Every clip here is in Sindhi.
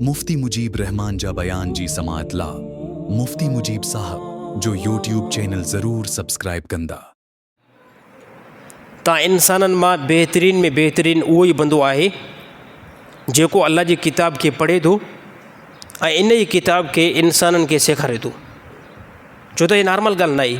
مفتي مجيب الرحمان جا بيان جي سماعت لا مفتي مجيب صاحب جو يوٽيوب چينل ضرور سبسڪرائب ڪندا. تان انسانن مان بهترين ۾ بهترين اهو ئي بندو آهي جيڪو الله جي ڪتاب کي پڙهي ٿو ۽ ان ئي ڪتاب کي انسانن کي سيکاري ٿو ڇو ته هي نارمل ڳالهه ناهي.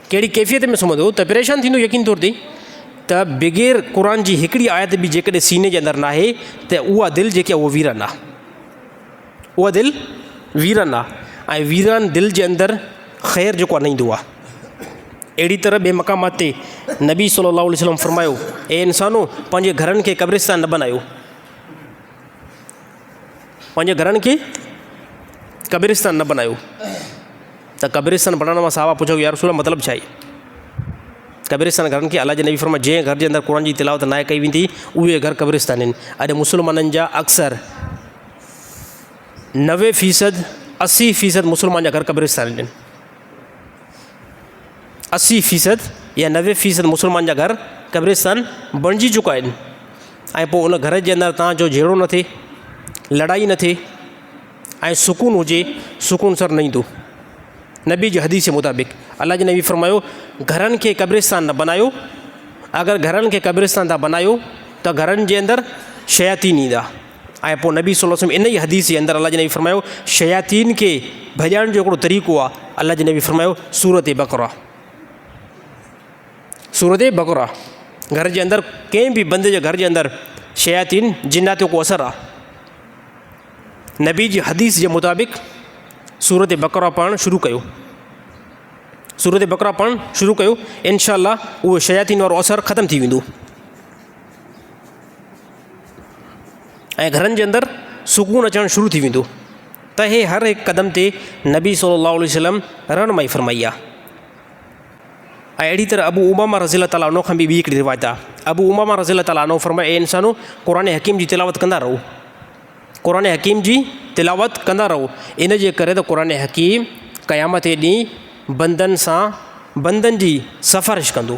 ڪهڙي ڪيفيت ۾ سمهندو ته پريشان ٿيندو يقين طور تي ته بغير قرآن جي هڪڙي آيت به جيڪڏهن سيني جي اندر ناهي ته اها دل جيڪي اهو ويران آ اها دل ويران آ ۽ ويران دل جي اندر خير جيڪو آ نه ايندو آ اهڙي طرح ٻي مقامات تي نبي صلي الله عليه وسلم فرمايو اي انسانو پنهنجي گهرن کي قبرستان نه بنايو پنهنجي گهرن کي قبرستان نه بنايو ته قبرستان بنائڻ وقت صحابه پڇيو يا رسول الله مطلب ڇا آهي قبرستان گهرن کي الله جي نبي فرمايو جنهن گهر جي اندر قرآن جي تلاوت ناهي ڪئي ويندي اهي گهر قبرستان آهن اڄ مسلمانن جا اڪثر نوي فيصد اسي فيصد مسلمان جا گهر قبرستان آهن اسي فيصد يا نوي فيصد مسلمان جا گهر قبرستان بڻجي چڪا آهن ۽ پوء ان گهر جي اندر تان جو جهيڙو نه ٿئي لڙائي نه ٿئي ۽ سڪون هجي سڪون سر نه ايندو نبي جي حديث جي مطابق الله جي نبي فرمايو گهرن کي قبرستان نه بنايو اگر گهرن کي قبرستان تان بنايو ته گهرن جي اندر شياطين ايندا ۽ پوء نبي صلّي وسلّم ان ئي حديث جي اندر الله جي نبي فرمايو شياطين کي ڀڄائڻ جو هڪڙو طريقو آ الله جي نبي فرمايو سورت بقره سورت بقره گهر جي اندر ڪنهن به بندي جي گهر جي اندر شياطين جنات جو ڪو اثر آ نبي جي حديث جي مطابق سورت بقره پڙهڻ شروع ڪيو سورت بقره پڙهڻ شروع ڪيو انشاء الله اهو شياطين وارو اثر ختم ٿي ويندو ۽ گھرن جي اندر سڪون اچڻ شروع ٿي ويندو ته هي هر هڪ قدم تي نبي صلي الله عليه وسلم رهنمائي فرمائي آ ۽ اهڙي طرح ابو امامه رضي الله تعالٰي عنه کان به ٻي هڪڙي روايت آ ابو امامه رضي الله تعالٰي عنه فرمائي اي انسانو قرآن حڪيم جي تلاوت ڪندا رهو قرآن حڪيم جي تلاوت ڪندا رهو ان جي ڪري ته قرآن حڪيم قيامت جي ڏينهن بندن سان بندن جي سفارش ڪندو